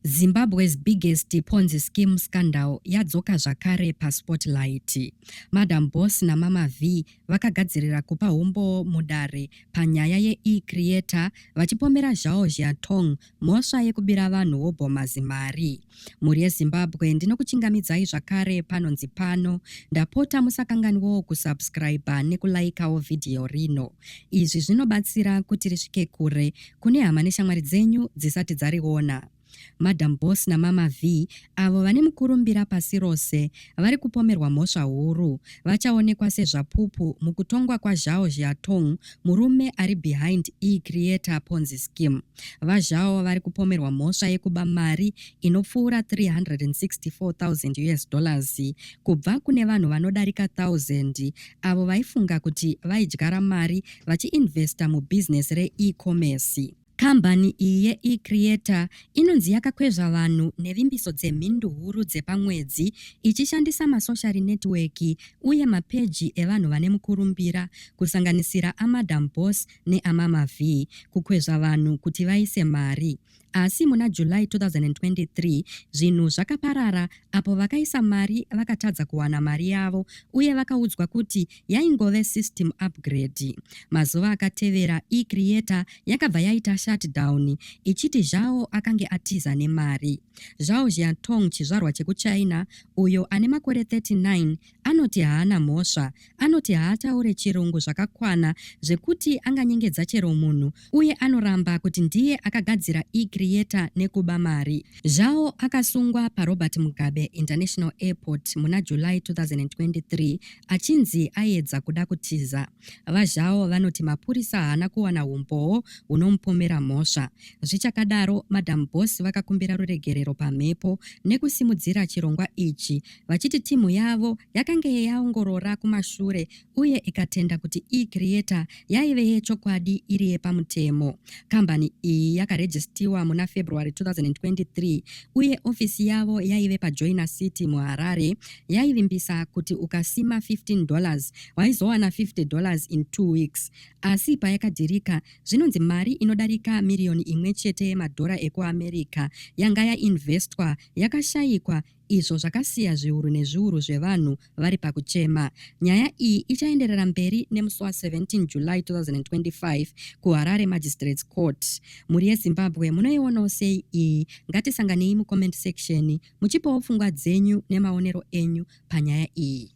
Zimbabwe's biggest Ponzi scheme scandal yadzoka zvakare paSpotlight. Madam Boss naMama Vee vakagadzirira kupa humbowo mudare panyaya yeE-Creator vachipomera Zhao Zhiatong mhosva yekubira vanhu wobhoma zimari. Mhuri yeZimbabwe ndinokuchingamidzai zvakare panonzi pano. Ndapota musakanganwawo kusubscriber nekulaikawo vhidhiyo rino. Izvi zvinobatsira kuti risvike kure kune hama neshamwari dzenyu dzisati dzariona. Madam Boss naMama Vee, avo vane mukurumbira pasi rose, vari kupomerwa mhosva huru. Vachaonekwa sezvapupu mukutongwa kwaZhao Zhiatong, murume ari behind eCreator Ponzi Scheme. VaZhao vari kupomerwa mhosva yekuba mari inopfuura 364,000 US dollars kubva kune vanhu vanodarika 1,000 avo vaifunga kuti vaidyara mari vachiinvesta mubhizinesi reEcommerce. Kambani iyi yeEcreator inonzi yakakwezva vanhu nevimbiso dzemhindu huru dzepamwedzi ichishandisa masoshari netiweki uye mapeji evanhu vane mukurumbira, kusanganisira aMadam Boss neaMama Vee, kukwezva vanhu kuti vaise mari. Asi muna July 2023 zvinhu zvakaparara apo vakaisa mari vakatadza kuwana mari yavo uye vakaudzwa kuti yaingove system upgrade. Mazuva akatevera eCreator yakabva yaita shutdown ichiti Zhao akange atiza nemari. Zhao Jiantong chizvarwa chekuChina uyo ane makore 39 Anoti haana mhosva. Anoti haataure chirungu zvakakwana zvekuti anganyengedza chero munhu uye anoramba kuti ndiye akagadzira eCreator nekuba mari. Zhao akasungwa paRobert Mugabe International Airport muna July 2023 achinzi aiedza kuda kutiza. VaZhao vanoti mapurisa haana kuwana umbowo hunomupomera mhosva. Zvichakadaro, Madam Boss vakakumbira ruregerero pamhepo nekusimudzira chirongwa ichi vachiti team yavo yakange yaongorora kumashure uye ikatenda kuti eCreator yaive yechokwadi iri yepamutemo. Kambani iyi yakarejistiwa muna February 2023 uye ofisi yavo yaive paJoina City muHarare yaivimbisa kuti ukasima 15 dollars waizowana 50 dollars in two weeks asi payakadhirika zvinonzi mari inodarika miriyoni imwe chete yemadhora ekuamerica yanga yainvestwa yakashayikwa izvo zvakasiya zviuru nezviuru zvevanhu vari pakuchema. Nyaya iyi ichaenderera mberi nemusi wa 17 July 2025 kuHarare Magistrates Court. Mhuri yeZimbabwe munoionawo sei iyi? Ngatisanganei mucomment section muchipawo pfungwa dzenyu nemaonero enyu panyaya iyi.